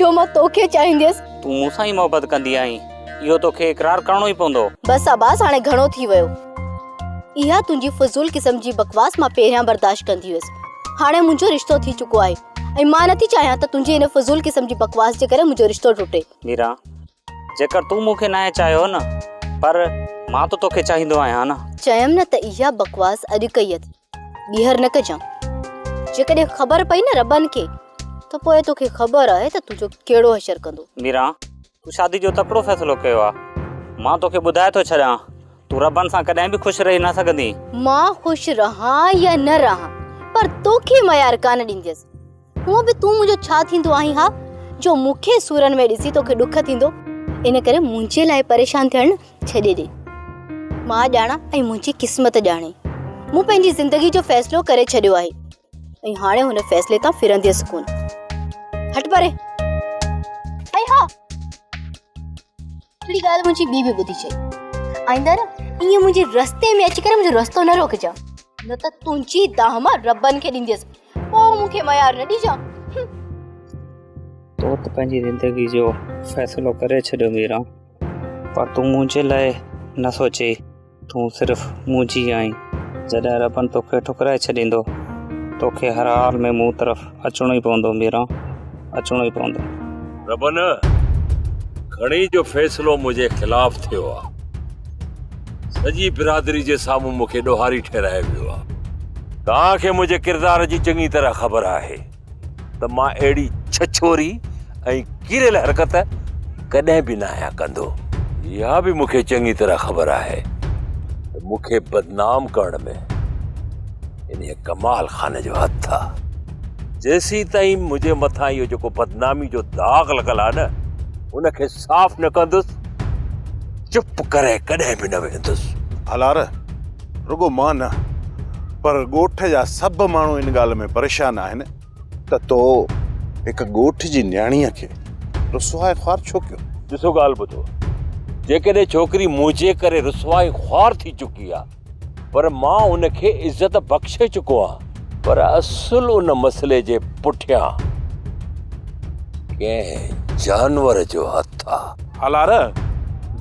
جو مان توکي چاهينديس. تون مون سان ئي محبت ڪندي آهين. اهو توکي اقرار ڪرڻو ئي پوندو. بس عباس هاڻي گهڻو ٿي ويو. اها تنهنجي فضول قسم جي بڪواس مان پهريان برداشت ڪندي هيس. هاڻي منهنجو رشتو ٿي چڪو آهي ۽ مان نٿي چاهيان ته تنهنجي ان فضول قسم جي بڪواس جي ڪري منهنجو رشتو ٽٽي. ميران جيڪر تون مون کي ناهي چاهيو نه پر مان ته توکي چاهيندو آهيان نه. چيم نه ته اها بڪواس اڄ ڪئي اٿئي. ٻيهر نه ڪجان. جيڪڏهن خبر پئي نه ربن کي ته پوء توکي خبر آهي ته تنهنجو ڪهڙو حشر ڪندو. ميران، تون شادي جو تڪڙو فيصلو ڪيو آهي. مان توکي ٻڌائي ٿو ڇڏيان، تون ربن سان ڪڏهن به خوش رهي نه سگهندينء. مان خوش رهان يا نه رهان پر توکي ميار ڪانه ڏينديس. هونء به تون منهنجو ڇا ٿيندو آهين ها، جو مون کي سورن ۾ ڏسي توکي ڏک ٿيندو. ان ڪري منهنجي لاء پريشان ٿيڻ ڇڏي ڏي. مان ڄاڻان ۽ منهنجي قسمت ڄاڻي. مون پنهنجي زندگي جو فيصلو ڪري ڇڏيو آهي ۽ هاڻي هن فيصلي تان ڦرنديس ڪونه. هٽ پري! ۽ ها! هڪڙي ڳالهه منهنجي ٻي به ٻڌي چئي، آئنده نه ائين منهنجي رستي ۾ اچي ڪري منهنجو رستو نه روڪجان، نه ته تنهنجي دانهن مان ربن کي ڏينديس، پوء مون کي ميار نه ڏجان. تون ته پنهنجي زندگي جو فيصلو ڪري ڇڏيو ميران، پر تون منهنجي لاء نه سوچين. تون صرف منهنجي آهين، جڏهن ربن توکي ٺڪرائي ڇڏيندو، توکي هر حال ۾ مون طرف اچڻو ئي پوندو ميران، اچڻو ئي پوندو. ربن، کڻي جو فيصلو منهنجي خلاف ٿيو آ، سڄي برادري جي سامهون مون کي ڏوهاري ٺهرائي ويو آ، توهان کي منهنجي ڪردار جي چڱي طرح خبر آهي، ته مان اهڙي ڇڇوري ۽ ڪيريل حرڪت ڪڏهن به نه آهيان ڪندو. اها به مون کي چڱي طرح خبر آهي ته مون کي بدنام ڪرڻ ۾ انهيء ڪمال خان جو هٿ آ. جيسيتائين منهنجي مٿان اهو جيڪو بدنامي جو داغ لڳل آ نه، ان کي صاف نه ڪندس، چپ ڪري ڪڏهن به نه ويهندس. ڀلار! رڳو مان نه پر ڳوٺ جا سڀ ماڻهو ان ڳالهه ۾ پريشان آهن ته تو هڪ ڳوٺ جي نياڻيء کي رسوا ۽ خوار ڇو ڪيو؟ ڏسو ڳالهه ٻڌو، جيڪڏهن ڇوڪري منهنجي ڪري رسوا ۽ خوار ٿي چڪي آ پر مان ان کي عزت بخشي چڪو آهيان پر اصل ان مسئلي جي پٺيان ڪنهن جانور جو هٿ آ. الارا،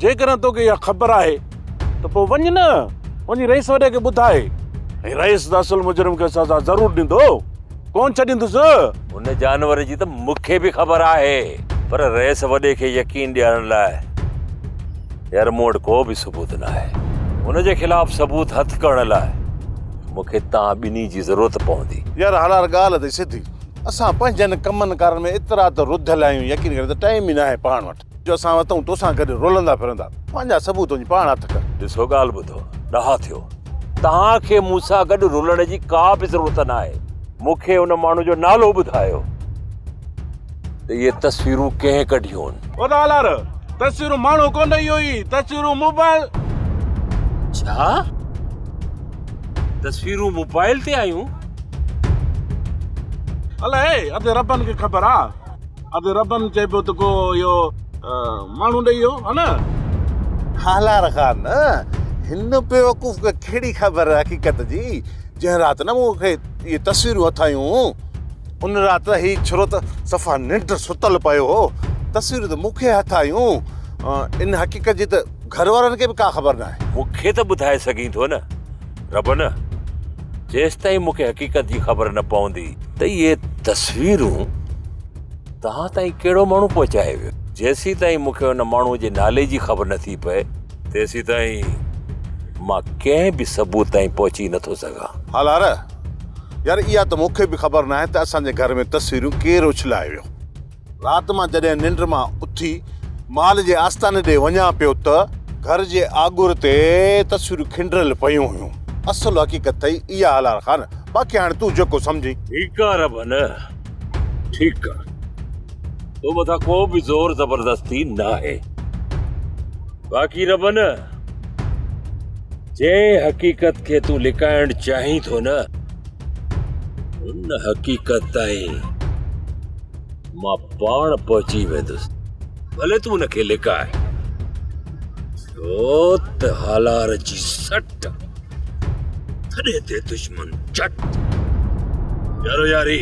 جيڪڏهن توکي اها خبر آهي ته پوء وڃ نه، وڃي رئيس وڏي کي ٻڌاء، ۽ رئيس ته اصل مجرم کي سزا ضرور ڏيندو، ڪونه ڇڏيندس. ان جانور جي ته مون کي به خبر آهي، پر رئيس وڏي کي يقين ڏيارڻ لاء هينئر مون وٽ ڪو به ثبوت ناهي. ان جي خلاف ثبوت هٿ ڪرڻ لاء مون کي توهان ٻنهي جي ضرورت پوندي. يار هلار ڳالهه اٿئي سڌي، اسان پنهنجن ڪمن ڪارن ۾ ايترا ته رڌل آهيون، يقين ڪريو ته ٽائيم ئي ناهي پاڻ وٽ. جو اسان وتون توسان گڏ رولندا ڦرندا. پنهنجا ثبوت وڃي پاڻ هٿ ڪر. ڏسو ڳالهه ٻڌو، ڏاها ٿيو. توهان کي مون سان گڏ رلڻ جي ڪا به ضرورت ناهي. مون کي ان ماڻهو جو نالو ٻڌايو ته اهي تصويرون ڪنهن ڪڍيون؟ او سالار! تصويرون ماڻهو ڪونه اهو هي، تصويرون موبائل. ڇا؟ تصويرون موبائل تي آيون؟ الائي اڌ ربن کي خبر آ. اڌ ربن چئبو ته ڪو اهو ماڻهو ڏئي ويو ها نه. ڪالهار خان، هن بيوقوف کي ڪهڙي خبر حقيقت جي، جنهن رات نه مون کي اهي تصويرون اٿايون، ان رات هي ڇرو ته صفا ننڊ ستل پيو هو، تصويرون ته مون کي اٿايون، ان حقيقت جي ته گهر وارن کي به ڪا خبر ناهي. مون کي ته ٻڌائي سگهين ٿو نه. رب نه جيستائين مونکي حقيقت جي خبر نه پوندي ته اهي تصويرون توهان تائين ڪهڙو ماڻهو پهچائي ويو جيسي تائين مونکي ان ماڻهو جي نالي جي خبر نه ٿي پئي تيسي تائين مان ڪنهن به ثبوت تائين پهچي نه ٿو سگهان هالار يار اها ته مونکي به خبر ناهي ته اسان جي گهر ۾ تصويرون ڪير اڇلائي ويو. رات مان جڏهن ننڊ مان اٿي مال جي آستاني ڏي وڃان پيو ته گهر جي آڳر تي تصويرون کنڊريل پيون هيون. اصل حقيقت ٿئي اها هلال خان. باقي هاڻي تون جيڪو سمجهين. ٺيڪ آ رب نه ٺيڪ آ تو مٿان ڪو به زور زبردستي ناهي باقي رب نه جنهن حقيقت کي تون لڪائڻ چاهين ٿو نه ان حقيقت تائين مان پاڻ پهچي ويندس ڀلي تون ان کي لڪاء ڇو ته هالار جي سٽ ٿڏي تي دشمن چٽ يارو ياري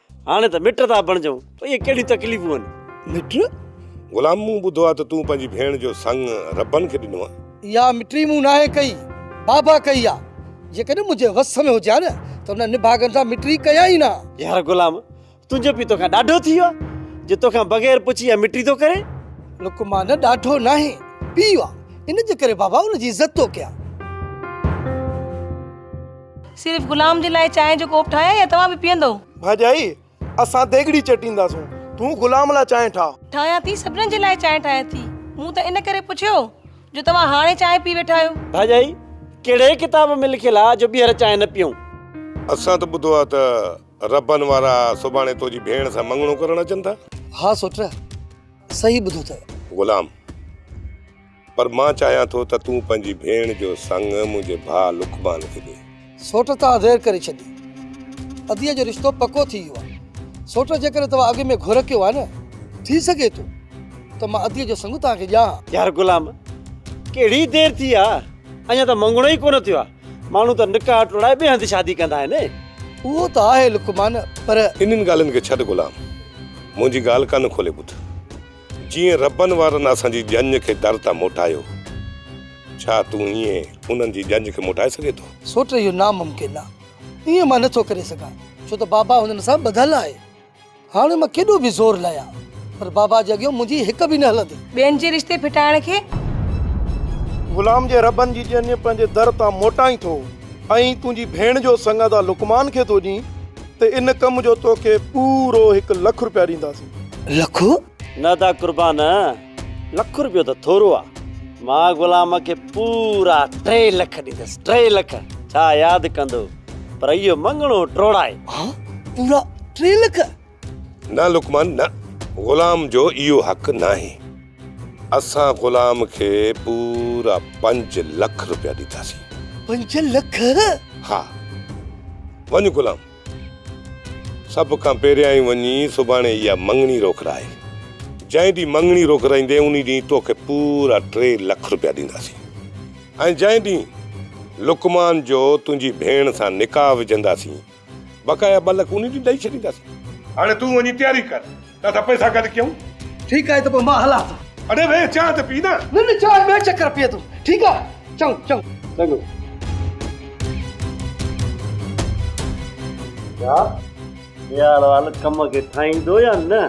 هاڻي ته مٽ ٿا بڻجون، اهي ڪهڙيون تڪليفون آهن؟ مٽ؟ غلام مون ٻڌو آهي ته تون پنهنجي ڀيڻ جو سڱ ربن کي ڏنو آهي. اها مٽي مون ناهي ڪئي، بابا ڪئي آهي. جيڪڏهن منهنجي وس ۾ هجي ها نه ته ان نڀاڳن سان مٽي ڪيان ئي نه ها. يار غلام، تنهنجو پيء توکان ڏاڍو ٿي ويو آهي، جو توکان بغير پڇي اها مٽي ٿو ڪري. لقمان ڏاڍو ناهي، پيء آهي، ان جي ڪري بابا ان جي عزت ٿو ڪيان. صرف غلام جي لاء چانهه جو ڪوپ ٺاهيان يا توهان به پيئندؤ؟ ڀاڄائي، اسان ديڳڙي چٽينداسون، تون غلام لاء چانهه ٺاهه. ٺاهيان ٿي، سڀنن جي لاء چانهه ٺاهيان ٿي. مون ته ان ڪري پڇيو جو توهان هاڻي چانهه پي ويٺا آهيو. ڀاڄائي، ڪهڙي ڪتاب ۾ لکيل آهي جو ٻيهر چانهه نه پيئون؟ اسان ته ٻڌو آهي ته ربن وارا سڀاڻي تنهنجي ڀيڻ سان مڱڻو ڪرڻ اچن ٿا. ها سوٽ، صحيح ٻڌو اٿئي. غلام. پر مان چاهيان ٿو ته تون پنهنجي ڀيڻ جو سڱ منهنجي ڀاء لقمان کي ڏي. سوٽ تان وير ڪري ڇڏي. اديء جو رشتو پڪو ٿي ويو آهي. سوٽ جيڪڏهن توهان اڳ ۾ گهر ڪيو آهي نه، ٿي سگهي ٿو ته مان اديء جو سڱ توهان کي ڏيان ها. يار غلام، ڪهڙي دير ٿي آ، اڃا ته مڱڻو ئي ڪونه ٿيو آ. ماڻهو ته نڪاح ٽوڙائي ٻئي هنڌ شادي ڪندا آهن. اهو ته آهي لقمان، پر. انهن ڳالهين کي ڇڏ غلام، منهنجي ڳالهه ڪن کولي ٻڌ. جيئن ربن وارن اسان جي ڄڃ کي در تان موٽايو، ڇا تون ائين انهن جي ڄڃ کي موٽائي سگهين ٿو؟ سوٽ اهو ناممڪن آ. ائين مان نه ٿو ڪري سگهان، ڇو ته بابا هنن سان ٻڌل آهي. هاڻ مان ڪيڏو به زور لهيان، پر بابا جي اڳيان منهنجي هڪ به نه هلندي. ٻين جي رشتي ڦٽائڻ کي. غلام جي ربن جي ڄڃ پنهنجي در تان موٽائين ٿو، ائين تنهنجي ڀيڻ جو سڱڌ آ لقمان کي ٿو ڏين. ته ان ڪم جو توکي پورو هڪ لک روپيا ڏينداسين. لک؟ نه دا قربان، لک روپيو ته ٿورو آ. مان غلام کي پورا ٽي لک ڏيندس، ٽي لک! ڇا ياد ڪندو؟ پر اهو مڱڻو ٽوڙائي. ها؟ پورا ٽي لک؟ نه لقمان نه، غلام جو اهو حق ناهي. اسان غلام کي پورا پنج لک روپيا ڏينداسين. پنج لک؟ ها. وڃ غلام، سڀ کان پهريائين وڃي سڀاڻي اها مڱڻي روڪرائي. جنهن ڏينهن مڱڻي روڪرائيندين انهي ڏينهن توکي پورا ٽي لک روپيا ڏينداسين ۽ جنهن ڏينهن لقمان جو تنهنجي ڀيڻ سان نڪاح وجهنداسين، بقايا ٻه لک انهن جي ڏئي ڇڏينداسين. هاڻي تون وڃي تياري ڪر ته اسان پئسا گڏ ڪيون. ٺيڪ آهي ته پوء مان هلان ٿو. اڙي ويهه چانهه ته پي نه. نه نه چانهه ٻئي چڪر پيئندم. ٺيڪ آهي چڱو چڱو. چڱو. ڇا ميهاروال ڪم کي ٺاهيندو يا نه؟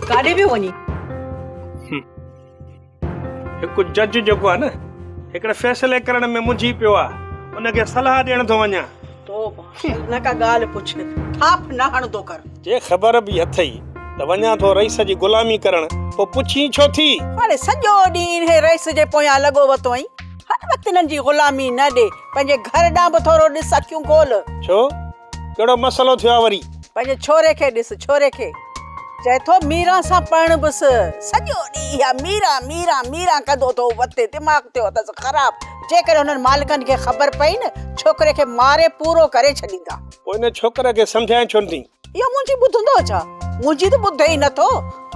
ڪاڏي پيو وڃين؟ هڪ جج جيڪو آهي نه هڪڙي فيصلي ڪرڻ ۾ منجهي پيو آهي ان کي صلاح ڏيڻ ٿو وڃان توبه نه ڪا ڳالهه پڇ ٿاڦ نه هڻندو ڪر جي خبر به اٿئي ته وڃان ٿو رئيس جي غلامي ڪرڻ پوء پڇين ڇو ٿي. هاڻي سڄو ڏينهن انهي رئيس جي پويان لڳو وتو آهين هر وقت انهن جي غلامي نه ڏي پنهنجي گهر ڏانهن به ٿورو ڏس اکيون کول. ڇو ڪهڙو مسئلو ٿيو آ وري. پنهنجي ڇوري کي ڏس ڇوري کي. چئي ٿو ميران سان پرڻبس. سڄو ڏينهن اها ميران ميران ميران ڪندو ٿو وتي دماغ ٿيو اٿس خراب. جيڪڏهن هنن مالڪن کي خبر پئي نه ڇوڪري کي ماري پورو ڪري ڇڏيندا. پوء ان ڇوڪري کي سمجهائين ڇو نه ٿي. اهو منهنجي ٻڌندو ڇا. منهنجي ته ٻڌي ئي نه ٿو.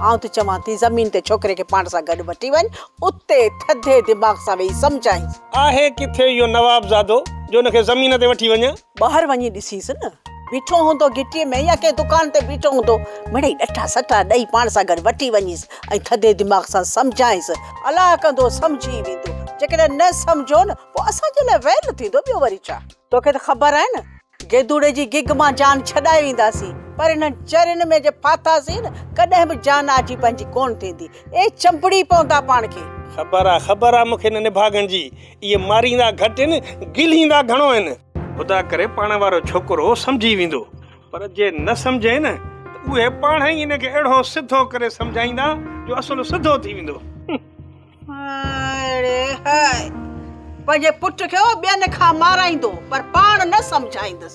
آئون ته چوان ٿي زمين تي ڇوڪري کي پاڻ سان گڏ وٺي وڃ اتي ٿڌي دماغ سان ويهي سمجهائينس. آهي ڪٿي اهو نوابزادو جو ان کي زمين تي وٺي وڃان. ٻاهر وڃي ڏسيس نه. بيٺو هوندو گهٽيء ۾ يا ڪنهن دڪان تي بيٺو هوندو. مڙئي ڏٺا سٺا ڏئي پاڻ سان گڏ وٺي وڃيس ۽ ٿڌي دماغ سان سمجهائينس. الاء ڪندو سمجهي ويندو. جيڪڏهن نه سمجهيو نه پوء اسان جي لاء ويل ٿيندو ٻيو وري ڇا. توکي ته خبر آهي نه گيدوڙي جي گيگ مان جان ڇڏائي وينداسين پر انهن چرين ۾ جي ڦاٿاسين نه ڪڏهن به جان آجي پنهنجي ڪونه ٿيندي. اي چنبڙي پوندا پاڻ کي. خبر آ خبر آ مون کي انهن نڀاڳن جي. اهي ماريندا گهٽ هن گلهيندا گهڻو هن. خدا ڪري پاڻ وارو ڇوڪرو سمجهي ويندو پر جي نه سمجهي نه ته اهي پاڻ ئي ان کي اهڙو سڌو ڪري سمجهائيندا جو اصل سڌو ٿي ويندو. هاءڙي هاء پنهنجي پٽ کي هو ٻين کان مارائيندو پر پاڻ نه سمجهائيندس.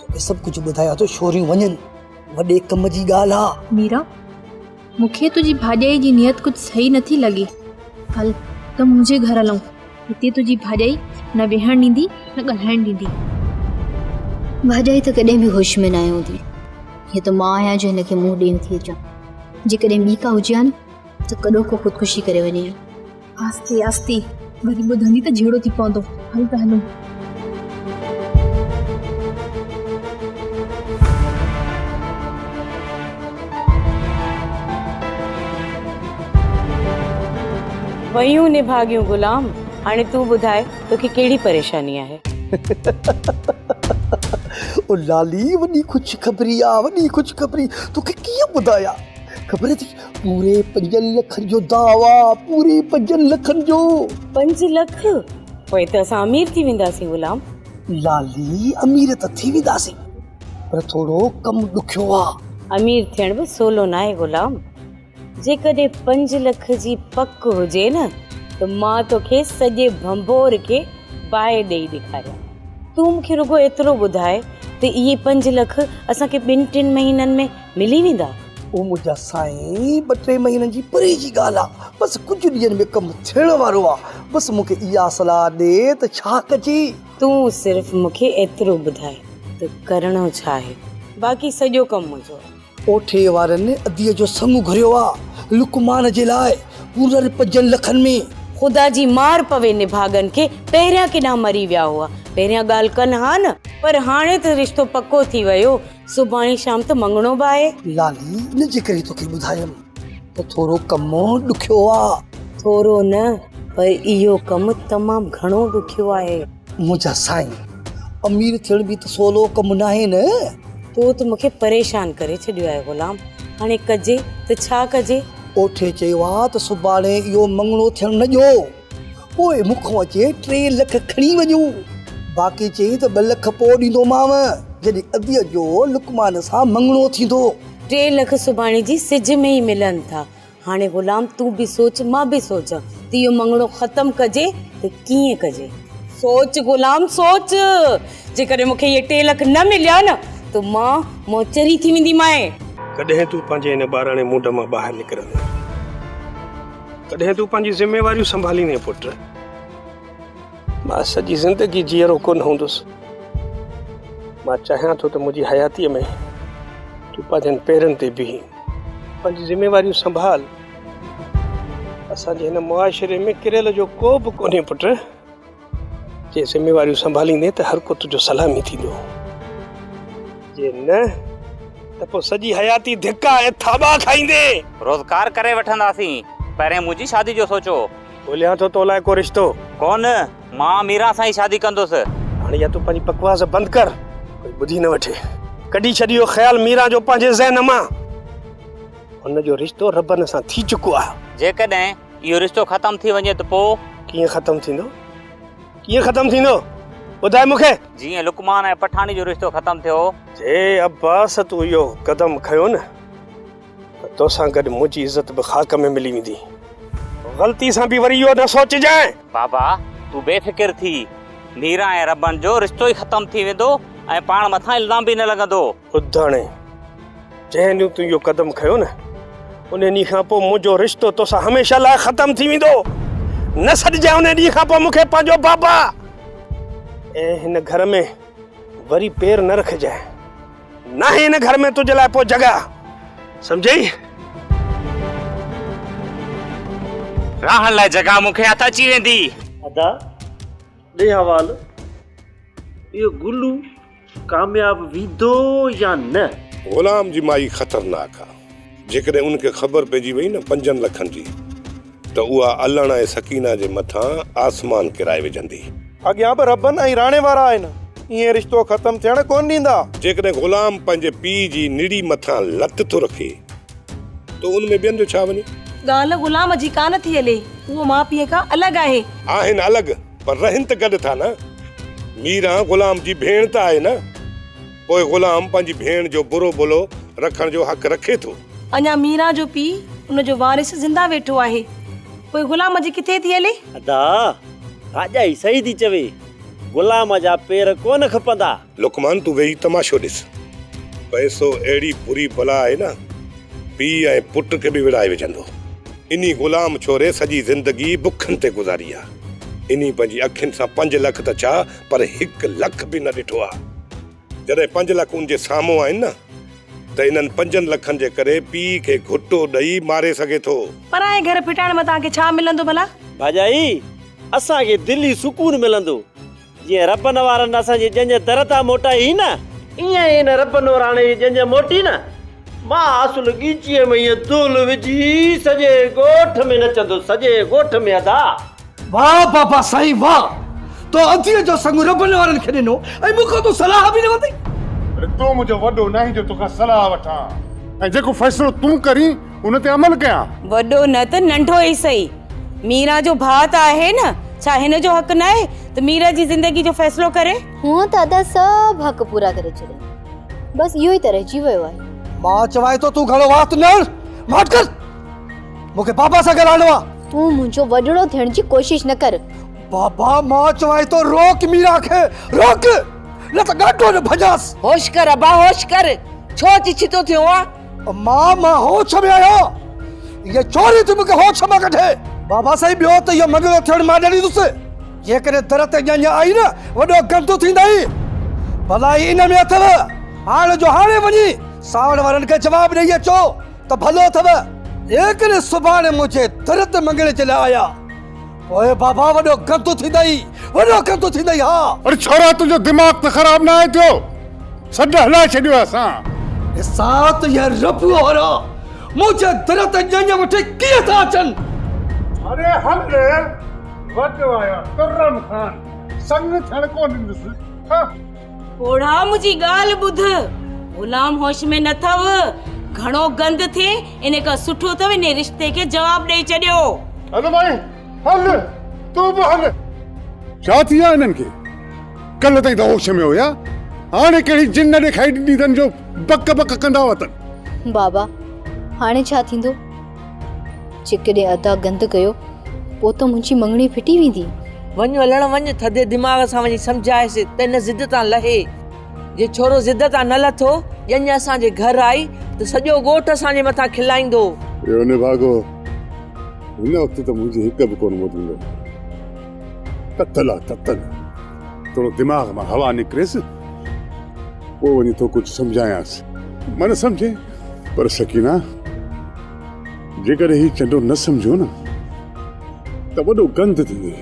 توکي سڀ ڪجهه ٻڌايان ٿو شوريون وڃن وڏي ڪم جي ڳالهه آ ميرا مونکي تنهنجي ڀاڄائي جي نيت ڪجهه صحيح نٿي لڳي هل ته منهنجي گهر هلون هتي تنهنجي ڀاڄائي نه ويهڻ ڏيندي نه ڳالهائڻ ڏيندي ڀاڄائي ته ڪڏهن به هوش ۾ ناهي هوندي هي ته مان آهيان جو هن کي منهن ڏيڻ ٿي اچان جيڪڏهن ٻي ڪا هجي ها نه ته ڪڏو ڪو خودڪشي ڪري وڃي ها آهستي آهستي وري ٻڌندي ته جهيڙو ٿي پوندو هل ته هلون ويون نڀاڳيون غلام هاڻي تون ٻڌاء توکي ڪهڙي پريشاني آهي او لالي وڏي خوشخبري آ وڏي خوشخبري توکي ڪيئن ٻڌايان خبر اٿئي پوري پنجن لکن جو دعويٰ پوري پنجن لکن جو پنج لک پوء ته اسان امير ٿي وينداسين غلام لالي امير ته ٿي وينداسين پر ٿورو ڪم ڏکيو آهي امير ٿيڻ به سولو ناهي غلام جيڪڏهن پنج لک جي پڪ هجي نه ته مان توکي سڄي ڀنڀور کي باهه ڏيئي ڏيکاريان تون مون کي رڳو ايترو ٻڌاء ته اهي پنج لک اسان کي ٻن ٽن مهينن ۾ ملي ويندا. او منهنجا سائين، ٻه ٽي مهينن جي پري جي ڳالهه آ، بس ڪجهه ڏينهن ۾ ڪم ٿيڻ وارو آ، بس مون کي اها صلاح ڏي ته ڇا ڪجي؟ تون صرف مون کي ايترو ٻڌاء ته ڪرڻو ڇا آهي، باقي سڄو ڪم منهنجو آ. اوٺي وارن اديء جو سڱ گهريو آ، لقمان جي لاء پورن پنجن لکن ۾. خدا جي مار پوي نڀاڳن کي پهريان ڪيڏا مري ويا هئا، پهريان ڳالهه ڪن ها نه. پر هاڻي ته رشتو پڪو ٿي ويو. سڀاڻي شام ته مڱڻو به آهي. لالي ان جي ڪري توکي ٻڌايم ته ٿورو ڪم ڏکيو آ. ٿورو نه پر اهو ڪم تمام گهڻو ڏکيو آهي. منهنجا سائين امير ٿيڻ به ته سولو ڪم ناهي نه. تو ته مونکي پريشان ڪري ڇڏيو آهي غلام. هاڻي ڪجي ته ڇا ڪجي؟ اوٺي چيو آ ته سڀاڻي اهو مڱڻو ٿيڻ نه ڏيو. پوء مون کان اچي ٽي لک کڻي وڃو، باقي چئي ته ٻه لک پوء ڏيندومانء، جڏهن اديء جو لقمان سان مڱڻو ٿيندو. ٽي لک سڀاڻي جي سج ۾ ئي ملن ٿا. هاڻي غلام تون به سوچ، مان به سوچان ته اهو مڱڻو ختم ڪجي ته ڪيئن ڪجي. سوچ غلام سوچ، جيڪڏهن مون کي اهي ٽي لک نه مليا نه ته مان موچري ٿي وينديمانء. ڪڏهن تون پنهنجي ان ٻاراڻي منڍ مان ٻاهر نڪرندين؟ ڪڏهن تون پنهنجي ذميواريون سنڀاليندين پٽ؟ مان سڄي زندگي جيئرو ڪونه هوندس. مان چاهيان ٿو ته منهنجي حياتيء ۾ تون پنهنجن پيرن تي بيهين. پنهنجي ذميواريون سنڀال. اسان جي هن معاشري ۾ ڪريل جو ڪو به ڪونهي پٽ. جي ذميواريون سنڀاليندين ته هرڪو تنهنجو سلامي ٿيندو. جي نه ته پوء سڄي حياتي ڌڪا ۽ ٿاٻا کائيندين. روزگار ڪري وٺنداسين. پهرين منهنجي شادي جو سوچو. ڳوليان ٿو تو لاء ڪو رشتو. ڪو نه، مان ميران سان ئي شادي ڪندس. هاڻي يا تون پنهنجي بڪواس بند ڪر. ڪوئي ٻڌي نه وٺي. ڪڍي ڇڏ اهو خيال ميران جو پنهنجي ذهن مان. هن جو رشتو ربن سان ٿي چڪو آهي. جيڪڏهن اهو رشتو ختم ٿي وڃي ته پوء؟ ڪيئن ختم ٿيندو؟ ڪيئن ختم ٿيندو؟ ٻڌاء مون کي. جيئن لقمان ۽ پٺاڻي جو رشتو ختم ٿيو. جي عباس تون اهو قدم کنيو نه ته توسان گڏ منهنجي عزت به خاڪ ۾ ملي ويندي. غلطي سان به وري اهو نه سوچجانء. بابا تون بي فڪر ٿي. ميران ۽ ربن جو رشتو ئي ختم ٿي ويندو ۽ پاڻ مٿان الزام به نه لڳندو. ٻڌاڻي، جنهن ڏينهن تون اهو قدم کنيو نه، ان ڏينهن کان پوء منهنجو رشتو توسان هميشه لاء ختم ٿي ويندو. نه سڏجانء ان ڏينهن کان پوء مون کي پنهنجو بابا ۽ هن گهر ۾ وري پير نه رکجانء. ناهي هن گهر ۾ تنهنجي لاء پوء جڳهه. سمجهيئي؟ رهڻ لاء جڳهه مون کي هٿ اچي ويندي. ادا، ڏي حوالو اهو گلو. ڪامياب ويندو يا نه؟ غلام جي مائي خطرناڪ آ جيڪڏهن ان کي خبر پئجي وئي نه پنجن لکن جي ته اها علڻ ۽ سڪينه جي مٿان آسمان ڪرائي وجهندي. اڳيان به ربن ۽ راڻي وارا آهن ائين رشتو ختم ٿيڻ ڪونه ڏيندا. جيڪڏهن غلام پنهنجي پيء جي نڙي مٿان لت ٿو رکي ته ان ۾ ٻين جو ڇا وڃي. ڳالهه غلام جي ڪانه ٿي هلي اهو ماء پيء کان الڳ آهي. آهن الڳ پر رهن ته گڏ ٿا نه؟ ميران غلام جي ڀيڻ ته آهي نه؟ پوء غلام پنهنجي ڀيڻ جو برو ڀلو رکڻ جو حق رکي ٿو. اڃا ميران جو پيء، ان جو وارث زنده ويٺو آهي. پوء غلام جي ڪٿي ٿي هلي؟ ادا! ڀاڄائي صحيح ٿي چوي. غلام جا پير ڪونه کپندا. لقمان تون ويهي تماشو ڏس. پئسو اهڙي بري بلا آهي نه پيء ۽ پٽ کي به وڙهائي وجهندو. انهي غلام ڇوري سڄي زندگي بکن تي گذاري آ. انهي پنهنجي اکين سان پنج لک ته ڇا پر هڪ لک به نه ڏٺو آ. جڏهن پنج لک ان جي سامهون آهن نه ته انهن پنجن لکن جي ڪري پيء کي گهٽو ڏئي ماري سگهي ٿو. پرائين گهر ڦٽائڻ مان توهان کي ڇا ملندو ڀلا؟ ڀاڄائي، اسان کي دلي سڪون ملندو. جيئن رب نوارن اسان جي ڄڃ در تان موٽائي هئي نه. ايئن ئي هن رب نوراڻي جي ڄڃ موٽي نه. مان آسل ڳيچيء ۾ هيء دول وجهي سڄي ڳوٺ ۾ نچندس، سڄي ڳوٺ ۾ ادا! واهه بابا سائين واهه! تو اديء جو سڱ رب نوارن کي ڏنو ۽ مون کان تون صلاح به نه ورتئي. اڙي تون منهنجو وڏو ناهين جو توکان صلاح وٺان ۽ جيڪو فيصلو تون ڪرين ان تي عمل ڪيان. وڏو نه ته ننڍو ئي سهي، ميران جو ڀاء ته آهي نه، ڇا هن جو حق ناهي ته ميران جي زندگي جو فيصلو ڪري؟ هونئن ته ادا سڀ حق پورا ڪري ڇڏيا، بس اهو ئي ته رهجي ويو آهي. مان چوانء ٿو تون گهڻو وات نه هڻ، ماٺ ڪر، مون کي بابا سان ڳالهائڻو آهي. تون منهنجو وڏڙو ٿيڻ جي ڪوشش نه ڪر. بابا مان چوانء ٿو روڪ ميران کي، روڪ، نه ته ڳاٽو نه ڀڃانس. هوش ڪر ابا، هوش ڪر، ڇو چڇتو ٿيو آهين؟ مان مان هوش ۾ آهيان هيء ڇوري ٿي مون کي هوش مان ڪڍي. بابا سائين ٻيو ته اهو مڱڻو ٿيڻ مان نه ڏيندس. جيڪڏهن در تي ڄڃ آئي نه وڏو گند ٿيندئي. ڀلائي ان ۾ اٿئو. هاڻ جو هاڻي وڃي سانوڻ وارن کي جواب ڏيئي اچو ته ڀلو اٿئو. جيڪڏهن سڀاڻي منهنجي در تي مڱڻي جي لاء آيا. پوء بابا وڏو گندو ٿيندئي، وڏو گندو ٿيندئي ها. اڙي ڇورا تنهنجو دماغ ته خراب ناهي ٿيو، سڏ هلائي ڇڏيو اسان. ڏسان ته اهي ربوء وارا منهنجي در تي ڄڃ وٺي ڪيئن ٿا اچن. اڙي هل وٽ وايا ترن کان سڱ ٿيڻ ڪو ڏيندس. پوڙها منهنجي ڳالهه ٻڌ. غلام هوش ۾ نه اٿئو. گهڻو گند ٿئي ان کان سٺو اٿئو انهي رشتي کي جواب ڏئي ڇڏيو. هل مائي هل تون به هل. ڇا ٿي ويو آهي هنن کي؟ ڪلهه تائين ته هوش ۾ هيا هاڻي ڪهڙي جن ڏيکاري ڏني اٿن جو بڪ بڪ ڪندا وتن. بابا هاڻي ڇا ٿيندو؟ چي ڪڏهن ادا گند ڪيو پوء ته منهنجي مڱڻي ڦٽي ويندي. وڃ ولڻ وڃ ٿڌي دماغ سان وڃي سمجهائيس ته هن ضد تان لهي. جي ڇورو ضد تان نه لٿو، ڄڃ اسان جي گهر آئي ته سڄو ڳوٺ اسان جي مٿان کلائيندو. اهو نڀاڳو هن وقت ته منهنجي هڪ به ڪونه ٻڌندو. تتل آ تتل. ٿورو دماغ مان هوا نڪريس پوء وڃي ٿو ڪجهه سمجهايانس مه نه سمجهي پر سڪينا جيڪڏهن هي چنڊو نه سمجهيو نه ته وڏو گند ٿيندي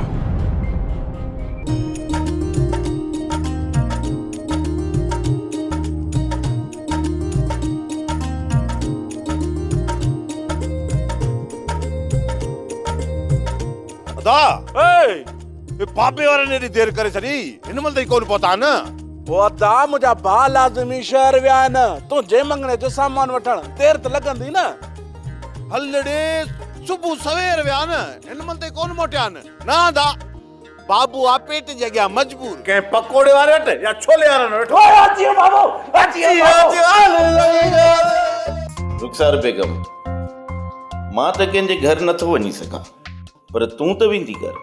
ادا اي اي بابي وارن ايڏي دير ڪري ڇڏي، هن مهل تائين ڪونه پهتا نه؟ او ادا، منهنجا ڀاء لازمي شهر ويا آهن، تون جي مڱڻي جو سامان وٺڻ، دير ته لڳندي نه؟ هل لڙي، صبح سوير ويا آهن، هن مهل تائين ڪونه موٽيا آهن. نه ادا، بابو آ پيٽ جي اڳيان مجبور. ڪنهن پڪوڙي واري وٽ يا ڇولي وارن وٽ. هو اچي ويو بابو، اچي ويو بابو. رخسار بيگم، مان ته ڪنهن جي گهر نٿو وڃي سگهان. پر تون ته ويندي ڪر.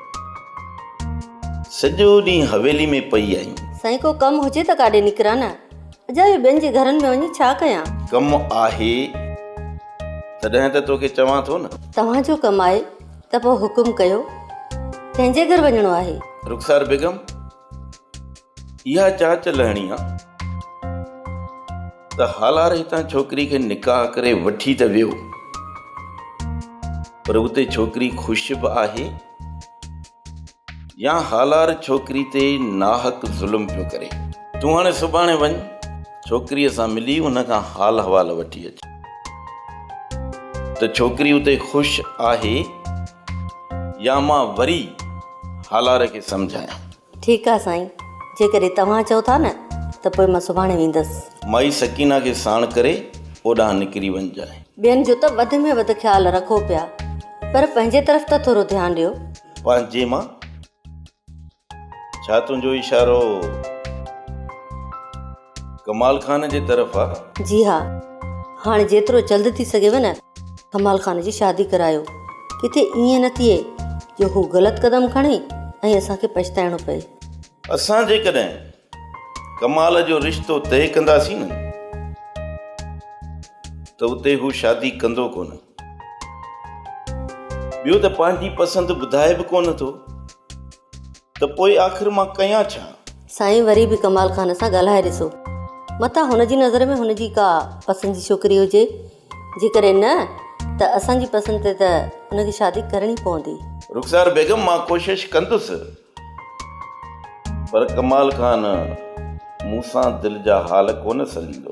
سڄو ڏينهن حويلي ۾ پئي آهين. سائين ڪو ڪم هجي ته ڪاڏي نڪران نه. اجايو ٻين جي گهرن ۾ وڃي ڇا ڪيان. ڪم آهي تڏهن ته توکي چوان ٿو نه. توهان جو ڪم آهي ته پوء حڪم ڪيو. ڪنهن جي گهر وڃڻو آهي؟ رخسار بيگم اها چاچ لهڻي آ ته هالار هتان ڇوڪري کي نڪاح ڪري وٺي ته ويو پر اتي ڇوڪري خوش به آهي يا هالار ڇوڪري تي ناحق ظلم پيو ڪري تون هاڻي سڀاڻي وڃ ڇوڪريء سان ملي ان کان حال حوال وٺي اچ ته ڇوڪري اتي خوش آهي يا مان وري هالار کي سمجهايان. ٺيڪ آ سائين جيڪڏهن توهان چئو ٿا نه ته پوء مان سڀاڻي ويندس. مائي سڪينه کي ساڻ ڪري اوڏانهن نڪري وڃجانء. ٻين جو ته وڌ ۾ وڌ خيال رکو پيا پر پنهنجي طرف ته ٿورو ڌيان ڏيو. پنهنجي مان ڇا تنهنجو اشارو. ڪمال خان جي طرف آ. جي ها هاڻي جيترو جلد ٿي سگهيو نه ڪمال خان جي شادي ڪرايو ڪٿي ائين نه ٿئي جو هو غلط قدم کڻي ۽ اسان کي پڇتائڻو پئي. اسان جيڪڏهن ڪمال جو رشتو طئي ڪنداسين نه ته اتي هو شادي ڪندو ڪونه ٻيو ته پنهنجي پسند ٻڌائي به ڪونه ٿو. ته پوء آخر مان ڪيان ڇا؟ سائين وري به ڪمال خان سان ڳالهائي ڏسو. متان هن جي نظر ۾ هن جي ڪا پسند جي ڇوڪري هجي. جيڪڏهن نه ته اسان جي پسند تي ته هن کي شادي ڪرڻي پوندي. رخسار بيگم مان ڪوشش ڪندس پر ڪمال خان مون سان دل جا حال ڪونه سليندو.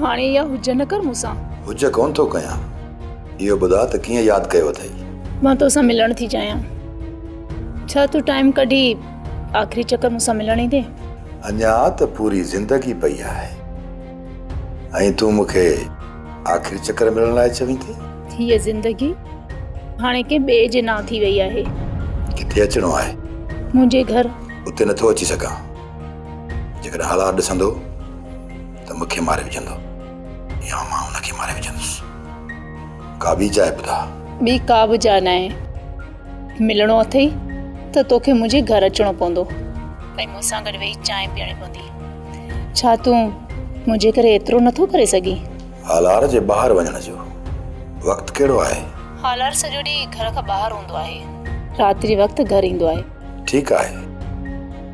هاڻي يا هجه نه ڪر مون سان. هجه ڪونه ٿو ڪيان. اهو ٻڌاء ته ڪيئن ياد ڪيو اٿئي. مان تو سان ملڻ ٿي چاهيان. ڇا تون ٽائيم ڪڍي آخري چڪر مون سان ملڻ ايندين؟ اڃا ته پوري زندگي پئي آهي ۽ تون مون کي آخري چڪر ملڻ لاء چوين ٿي؟ هيء زندگي هاڻي ڪنهن ٻئي جي نانء ٿي وئي آهي. ڪٿي اچڻو آهي؟ منهنجي گهر. اتي نه ٿو اچي سگهان. جيڪڏهن حالات ڏسندو ته مون کي ماري وجهندو يا مان ان کي ماري وجهندس ڪا ٻي جاء ٻڌاء ٻي ڪا به جاء ناهي ملڻو اٿئي ته توکي منهنجي گهر اچڻو پوندو ۽ مون سان گڏ ويهي چانهه پيئڻي پوندي ڇا تون منهنجي ڪري ايترو نٿو ڪري سگهين هالار جي ٻاهر وڃڻ جو وقت ڪهڙو آهي هالار سڄو ڏينهن گهر کان ٻاهر هوندو آهي رات جي وقت گهر ايندو آهي ٺيڪ آهي